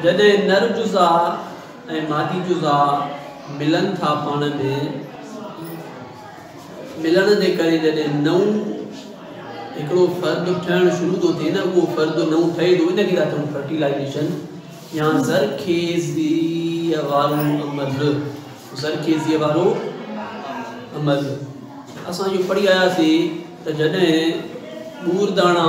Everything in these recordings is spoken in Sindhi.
جڏهن نر جزا ۽ مادي جزا ملن ٿا پاڻ ۾ ملڻ جي ڪري جڏهن نئون هڪڙو فرد ٺهڻ شروع ٿو ٿئي نه اهو فرد نئون ٺهي ٿو ان کي ٿا چون فرٽيلائيزيشن يا زرخيزي وارو عمل زرخيزي وارو عمل اسان جو پڙهي آياسي ته جڏهن ٻور داڻا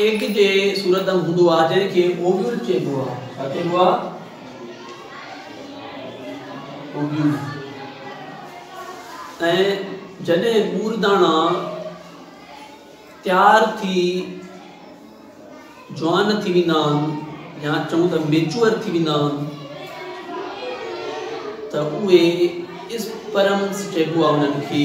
ايگ جي صورت ۾ هوندو آهي جنهن کي اوويول چئبو آهي. ڇا چئبو آهي؟ اوويول. ۽ جڏهن ٻور داڻا تيار ٿي جوان ٿي ويندا آهن يا چئون ته ميچوئر ٿي ويندا آهن ته اهي اسپرمس چئبو آهي انهن کي.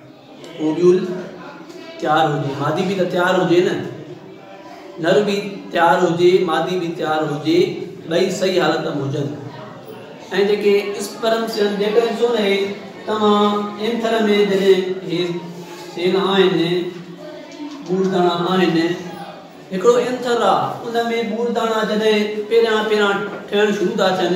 اوٻيول تيار هجي مادي به ته تيار هجي نه نر به تيار هجي مادي به تيار هجي ٻئي صحيح حالت ۾ هجن ۽ جيڪي اسپرم سين جيڪر ڏسو نه هي توهان اينٿر ۾ جڏهن هي سين آهن ٻوڙداڻا آهن هڪڙو اينٿر آهي ان ۾ ٻوڙداڻا جڏهن پهريان پهريان ٺهڻ شروع ٿا ٿين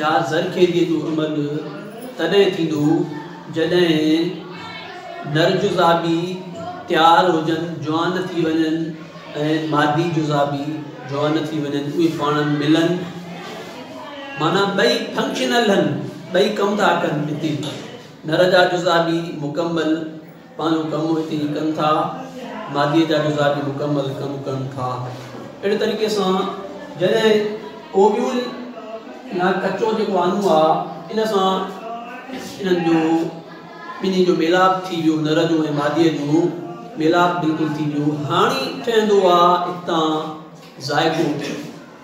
يا زرخيزيء جو عمل تڏهن ٿيندو جڏهن نر جزا به تيار هجن، جوان ٿي وڃن ۽ مادي جزا به جوان ٿي وڃن، اهي پاڻ ملن معنيٰ ٻئي فنڪشنل هن، ٻئي ڪم ٿا ڪن هتي نر جا جزا به مڪمل. پنهنجو ڪم اتي ئي ڪن ٿا، ماديء جا جزا به مڪمل ڪم ڪن ٿا. اهڙي طريقي سان جڏهن اوويول يا ڪچو جيڪو آنو آ ان سان انهن جو ٻنهي جو ميلاپ ٿي ويو، نر جو ۽ ماديء جو ميلاپ بلڪل ٿي ويو. هاڻي ٺهندو آ اتان ذائقو.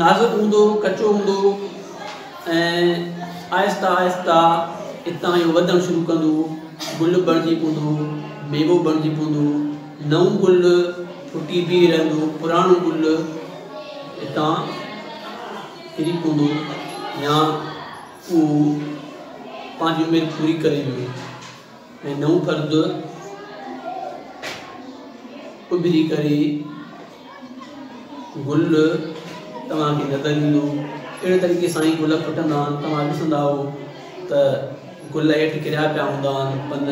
نازڪ هوندو، ڪچو هوندو ۽ آهسته آهسته اتان اهو وڌڻ شروع ڪندو، گل بڻجي پوندو، ميوو بڻجي پوندو، نئون گل ڦٽي بيهي رهندو، پراڻو گل اتان ڪري پوندو يا اهو پنهنجي عمر پوري ڪري ويندو. ۽ نئون فرد اڀري ڪري گل توهان کي نظر ايندو اهڙي طريقي سان ئي گل ڦٽندا آهن توهان ڏسندا آهو ته گل هيٺ ڪريا پيا هوندا آهن پن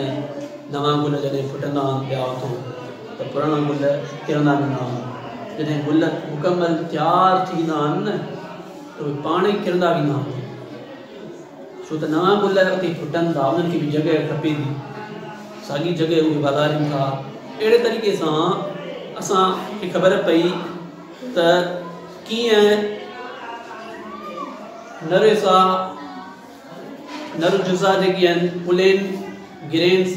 نوان گل جڏهن ڦٽندا آهن پيا اٿو ته پراڻا گل ڪرندا ويندا آهن جڏهن گل مڪمل تيار ٿي ويندا آهن نه ته اهي پاڻ ئي ڪرندا ويندا آهن ڇو ته نوان گل اتي ڦٽن ٿا انهن کي به جڳهه کپي ٿي ساڳي جڳهه اهي واڌارين ٿا اهڙي طريقي سان اسان کي خبر پئي ته ڪيئن نرويسا نروجزا جيڪي آهن پلين گرينس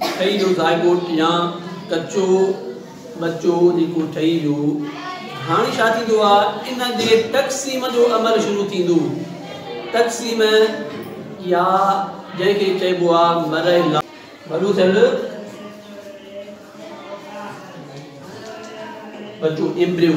ٺهي جو زائگوٽ يا ڪچو ٻچو جيڪو ٺهي جو هاڻي ڇا ٿيندو آهي ان جي تقسيم جو عمل شروع ٿيندو تقسيم يا جنهن کي چئبو آهي مرحلا وڏو ٿيل ٻچو ايمبريو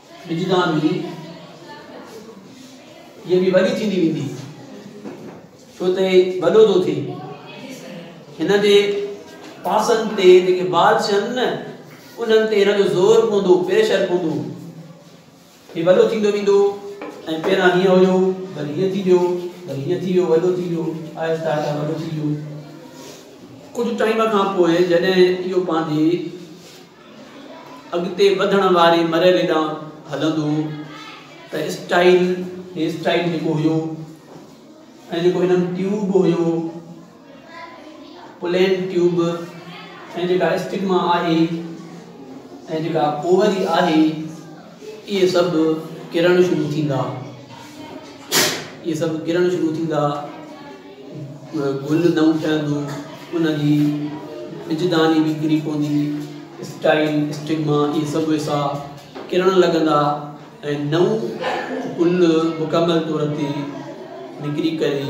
وجدان جي هيء به وڏي ٿيندي ويندي ڇو ته وڏو ٿو ٿئي هن جي پاسن تي جيڪي بال ڇن نه انهن تي هن جو زور پوندو پريشر پوندو هي وڏو ٿيندو ويندو ۽ پهران هيئن هيو وري هيئن ٿي ويو وري هيئن ٿي ويو وڏو ٿي ويو آهستي آهستي وڏو ٿي ويو ڪجهه ٽائيم کان پوء جڏهن اهو پنهنجي اڳتي وڌڻ واري مرحلي ڏانهن هلندو ته اسٽائيل هي اسٽائيل جيڪو هيو ۽ جيڪو هنن ٽيوب هيو پلين ٽيوب ۽ جيڪا اسٽگما آهي ۽ جيڪا اووري آهي اهي سڀ ڪرڻ شروع ٿيندا اهي سڀ ڪرڻ شروع ٿيندا گل نئون ٺهندو ان جي ٻجداني به ڪري پوندي اسٽائل اسٽگما اهي سڀ ويسا ڪرڻ لڳندا ۽ نئون گل مڪمل طور تي نکري ڪري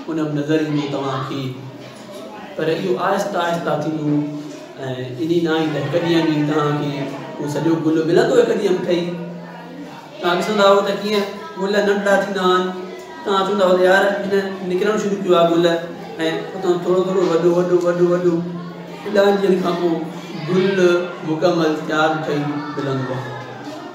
پونم نظر ايندي توهان کي پر اهو آهسته آهسته ٿيندو ۽ ايندي ناهي ته هڪ ڏينهن ۾ توهان کي اهو سڄو گل ملندو هڪ ڏينهن ٺهي توهان ڏسندا هو ته ڪيئن گل ننڍا ٿيندا آهن توهان چوندا هو يار هن نڪرڻ شروع ڪيو آهي گل ۽ اتان ٿورو ٿورو وڏو وڏو وڏو وڏو ڏهن ڏينهن کان پوء گل مڪمل تيار ٺهي ملندو آهي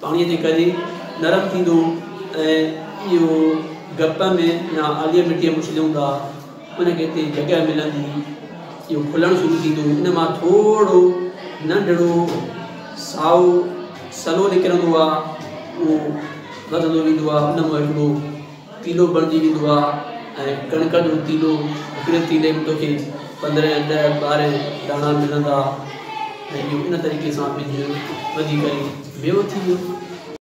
پاڻيء تي ڪري نرم ٿيندو ۽ اهو گپ ۾ يا آليء مٽيء ۾ اڇليون ٿا ان کي اتي جڳهه ملندي اهو کلڻ شروع ٿيندو ان مان ٿورڙو ننڍڙو سائو سلو نڪرندو آهي اهو وڌندو ويندو آهي ان مان هڪڙو تيلو بڻجي ويندو آ ۽ ڪڻڪ جو تيلو هڪڙي تيلي ۾ توکي پندرهن ڏهه ٻارهن داڻا ملندا ۽ اهو ان طريقي سان ٻج وڌي ڪري ميوو ٿي ويو.